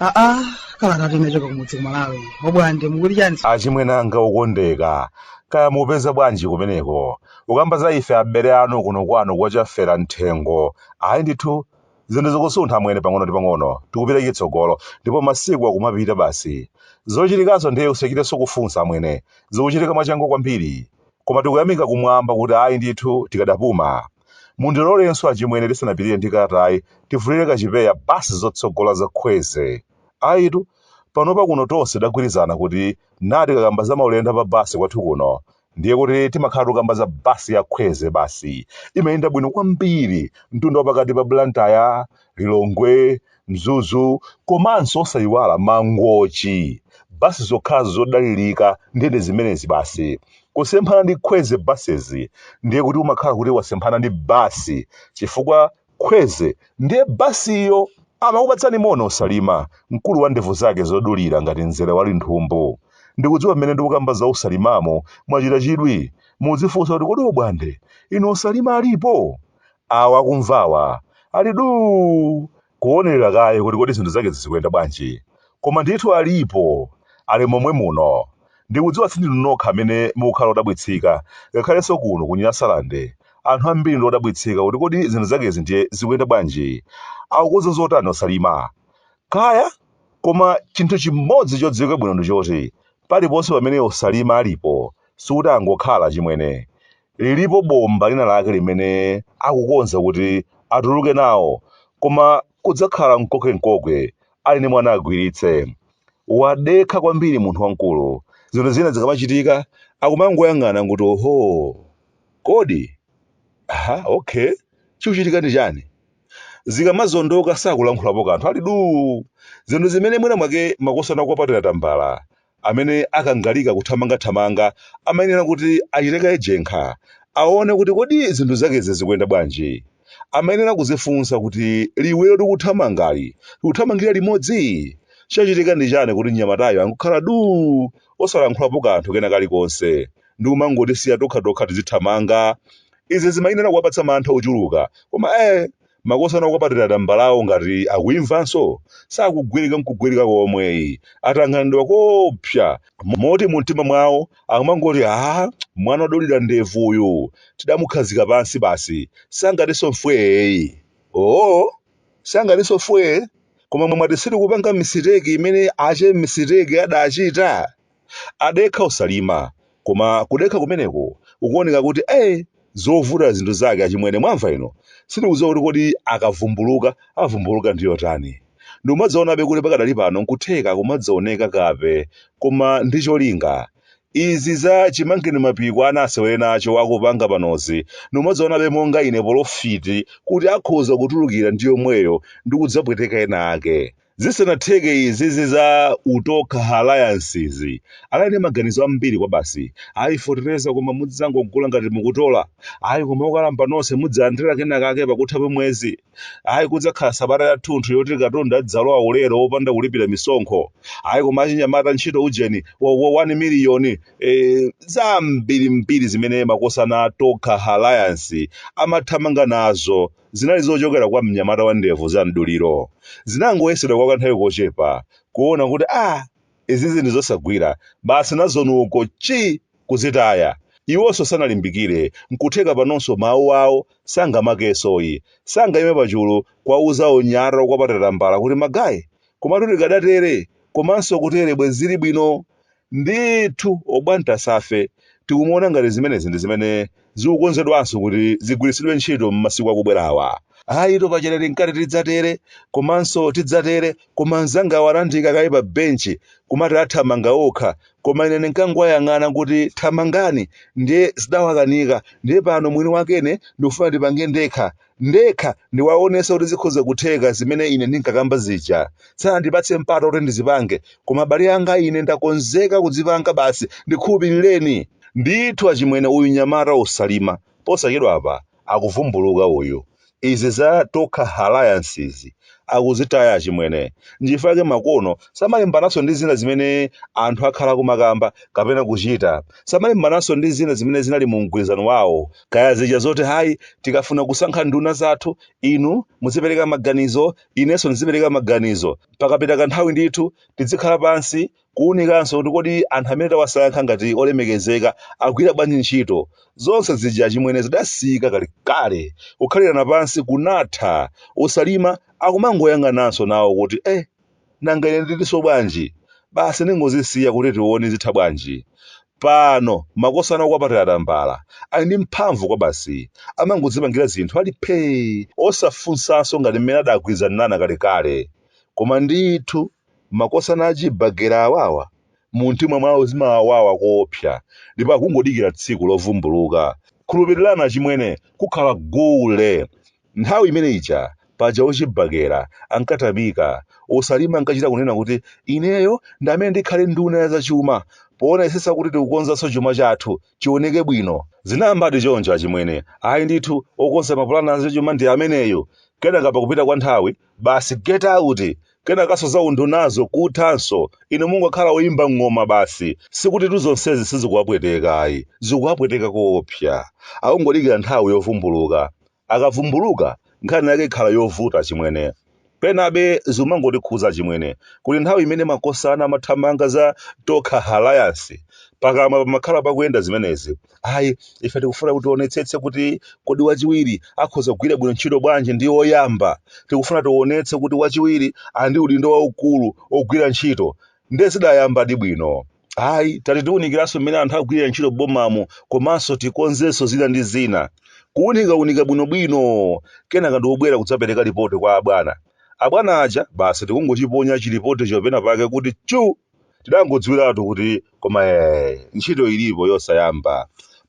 aa kalata tinachoka kumudzi kumalawi obwande mukuti chani achimwene anga okondeka kaya mupeza bwanji kumeneko ukamba za ife abere anu kuno kwanu kwachafera mthengo ayi ndithu Zinthu zikusuntha amwene pang'ono ndi pang'ono, tikupita chitsogolo, ndipo masiku akumapita basi. Zochitikazo ndiye usachitenso kufunsa amwene, zikuchitika mwachangu kwambiri. Koma tikuyamika kumwamba kuti ayi ndithu tikadapuma. Mundilolenso achimwene tisanapitirire ndi kalatayi tivulire kachipewa basi zotsogola za Kwezy. Ayitu, panopa kuno tonse tagwirizana kuti na tikakamba za maulendo a pa basi kwathu kuno, ndiye kuti timakhala tukamba za basi ya kwezy basi imayenda bwino kwambiri mtunda wapakati pa blantyre lilongwe mzuzu komanso osayiwala mangochi basi zokhazo zodalirika ndiye ndi zimenezi basi kusemphana ndi kwezy buses ndiye kuti umakhala kuti wasemphana ndi basi chifukwa kwezy ndiye basiyo amakupatsani moni osalima mkulu wa ndevu zake zodulira ngati mzere wa linthumbu ndikudziwa mmene ndikukamba za osalimamo mwachita chidwi mukudzifunsa kuti kodi obwande inu osalima alipo awa akumvawa ali duu kuonerera kaye kuti kodi zinthu zake zizikuyenda bwanji koma ndithu alipo ali momwe muno Ndikudziwa sindinu nokha amene mukukhala odabwitsika, ngakhalenso kuno ku Nyasalande anthu ambiri ndi odabwitsika kuti kodi zinthu zakezi ndiye zikuyenda bwanji? Akukonza zotani o Salima? Kaya? Koma chinthu chimodzi chodziwika bwino ndi choti paliponse pamene o Salima alipo sikuti angokhala achimwene. Lilipo bomba lina lake limene akukonza kuti atuluke nawo koma kudzakhala nkoke-nkoke ali ndi mwana agwiritse wadekha kwambiri munthu wamkulu zinthu zina zikamachitika akumangoyang'ana nguti oho kodi aha okay chikuchitika ndi chani zikamazondoka sakulankhulapo kanthu ali duu zinthu zimene mwina mwake makosana ku party ya tambala amene akangalika kuthamangathamanga amayenera kuti achite kaye jenkha aone kuti kodi zinthu zakezi zikuyenda bwanji amayenera kuzifunsa kuti liwiro tikuthamangali tikuthamangira limodzi chachitika ndi chani kuti mnyamatayo angokhala duu osalankhulapo kanthu kena kalikonse ndi kumangotisiya tokhatokha tizithamanga izi zimayenera kuwapatsa mantha ochuluka koma eh Makosana okwapatira tambalawo ngati akuimvanso sakugwirika nkugwirika komwe atanganidwa koopsa moti mumtima mwawo akumangoti aah mwana odulira ndevu uyu tidamukhazika pansi basi sangatinso mfwee ooh sangatinso mfwee koma mwati sitikupanga misiteki imene ache misiteki adachita? Adekha osalima koma kudekha kumeneko ukuoneka kuti ee zovuta zinthu zake achimwene mwamva inu sindikudziwa kuti kodi akavumbuluka avumbuluka ndi yotani ndikumadzaonabe kuti pakadali pano nkutheka akumadzaoneka kape koma ndi cholinga izi za chimangeni mapiko ana asewere nacho akupanga panozi ndikumadzaonabe monga ine polofiti kuti akhoza kutulukira ndi yomweyo ndi kudzapweteka ena ake Zisanatheke izizi za Utokha Alliance izi, anali ndi maganizo ambiri kwabasi, ayi fotereza koma mudzangogula ngati mukutola, ayi koma okalamba nonse mudzalandira kenakake pakutha pa mwezi, ayi kudzakhala sabata yathunthu yoti katundu adzalowa ulere opanda kulipira misonkho, ayi koma achinyamata ntchito ujeni wa, wa 1 million, eh, zambirimbiri zimene makosana a Tokha Alliance amathamanga nazo. Zinali zochokera kwa mnyamata wa ndevu za mduliro. Zinangoyesedwa kwa kanthawi kochepa, kuona kuti ah, izizi ndi zosagwira, basi nazo uko chi! kuzitaya. Iwonso sanalimbikire, nkutheka panonso mawu awo sangamvekensoyi, sangaime pachulu kuwauza anyamata okwapatira tambala kuti magaye, komatu tikadatere, komanso kutere bwenzi zili bwino. Ndithu Obwanta Safe tikumuona ngati zimenezi ndi zimene zikukonzedwanso kuti zigwiritsidwe ntchito m'masiku akubwerawa. Ayitu paja ine ndinkati tidzatere komanso tidzatere koma anzangawa anandiika kaye pa benchi kumati athamanga okha koma ine ndinkangowayang'ana kuti thamangani ndiye zidawakanika ndiye pano mwini wakene ndikufuna ndipange ndekha ndekha ndiwaonetse kuti zikhoza kutheka zimene ine ndinkakamba zija. Sanandipatse mpata woti ndizipange, koma abale anga ine ndakonzeka kuzipanga basi ndikhulupirireni. Ndithu achimwene uyu mnyamata osalima posachedwapa akuvumbuluka uyu. Izi za Tokha Alliance izi akuzitaya achimwene. Nchifukwa chake makono samalimbananso ndi zina zimene anthu akhala akumakamba kapena kuchita. Samalimbananso ndi zina zimene zinali mu mgwirizano wawo kaya zija zoti hayi tikafuna kusankha nduna zathu inu muzipereka maganizo inenso ndizipereka maganizo pakapita kanthawi ndithu tizikhala pansi kuunikanso kuti kodi anthu amene tawasankha ngati olemekezeka agwira bwanji ntchito zonse zija chimwene zidasiyika kalekale kukhalirana pansi kunatha usalima akumangoyang'ananso nawo kuti eh nanga ine ndilinso bwanji basi ndingozisiya kuti tione zitha bwanji pano makosana okwapatira tambala ali ndi mphamvu kwabasi, amangodzipangira zinthu ali phee osafunsanso ngati mmene adagwirizanirana kalekale koma ndithu makosana achibagera awawa mumtima mwawo zimawawawa koopsa ndipo akungodikira tsiku lovumbuluka khulupirirani achimwene kukhala gule Nthawi imene ija, paja ochibakera ankathamanga, usalima ankachita kunena kuti ineyo ndi amene ndikhale nduna ya zachuma poonetsetsa kuti tikukonzanso chuma chathu chioneke bwino. Zinayambadi choncho achimwene, ayi ndithu okonza mapulani a zachuma ndi ameneyu, kenaka pakupita kwa nthawi, basi get out! Kenakanso za undunazo kuthanso, inu mungokhala oimba ng'oma basi. Sikutitu zonsezi sizikuwapweteka ayi, zikuwapweteka koopsa. Akungodikira nthawi yovumbuluka. Akavumbuluka, nkhani yake ikhala yovuta achimwene. Penabe zikumangotikhudza achimwene kuti nthawi imene makosana amathamanga za Tokha Alliance, pakamwa pamakhala pakuyenda zimenezi. Ayi, ife tikufuna kuti tionetsetse kuti kodi wachiwiri akhoza kugwira bwino ntchito bwanji ndi woyamba. Tikufuna tionetse kuti wachiwiri ali ndi udindo waukulu wogwira ntchito. Nde zidayambadi bwino. ayi tati tiwunikiranso mmene anthu agwirira ntchito bomamo komanso tikonzenso zina ndi zina kuwunikawunika bwinobwino kenaka ndikubwera kudzapereka lipoti kwa abwana abwana aja basi ndikungochiponya chilipoticho pena pake kuti chu tidangodziwiratu kuti koma eh, ntchito ilipo yosayamba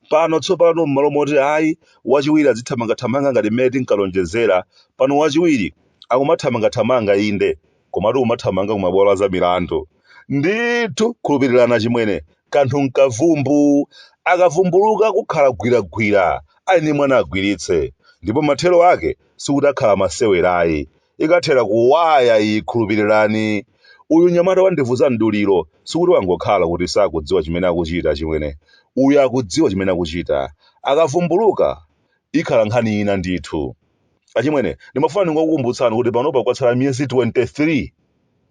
pano tsopano m'malo moti ayi wachiwiri adzithamangathamanga ngati mmene tinkalonjezera pano wachiwiri akumathamangathamanga inde komatu akumathamanga kumabwalo a zamilandu ndithu khulupirirani achimwene kanthu nkavumbu akavumbuluka kukhala gwiragwira ali ndi mwana agwiritse ndipo mathero ake sikuti akhala masewera ayi ikathera kuwaya iyi khulupirirani uyu nyamata wandivuza mduliro sikuti wangokhala kuti sakudziwa chimene akuchita achimwene uyu akudziwa chimene akuchita akavumbuluka ikhala nkhani ina ndithu achimwene ndimafuna ndingokukumbutsani kuti panopa kwatsala miyezi 23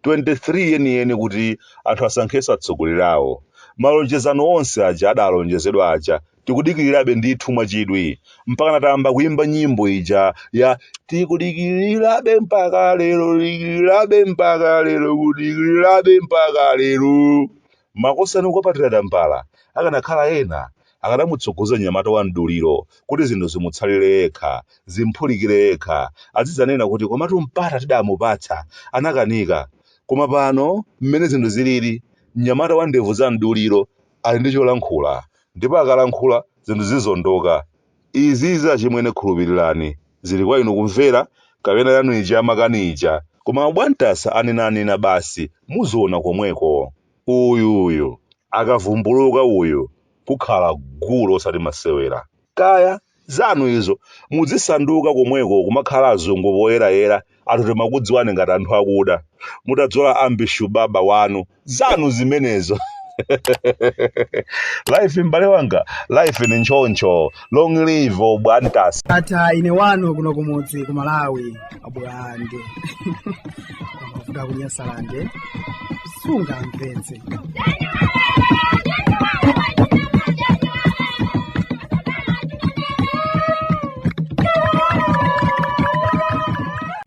23 yeniyeni kuti anthu asankhenso atsogoleri awo malonjezano onse aja adalonjezedwa aja tikudikirirabe ndithu mwachidwi mpaka tayamba kuimba nyimbo ija ya tikudikirirabe mpaka lero dikirirabe mpaka lero kudikirirabe mpaka lero makosana akukwapatira tambala akanakhala ena Akadamutsogoza mnyamata wa mduliro kuti zinthu zimutsalire yekha, zimphulikire yekha, adzidzanena kuti komatu mpata tidamupatsa, anakanika. Koma pano, mmene zinthu zilili, mnyamata wa ndevu za mduliro ali ndi cholankhula, ndipo akalankhula, zinthu zizondoka. Izizi achimwene khulupilirani, zili kwa inu kumvera kapena yanu ija ya makani ija. Koma a Bwantasa anenanena basi, muziona komweko. uyu uyu akavumbuluka uyu kukhala gule osati masewera kaya zanu izo mudzisanduka komweko kumakhala azungu poyerayera anthu timakudziwani ngati anthu akuda mutadzola ambi shuwa bambo wanu zanu zimenezo life m'bale wanga life ni nchoncho long live obwantasa atha ine wanu kuno kumudzi ku malawi abwande amavuta kunyasalande sungamvetse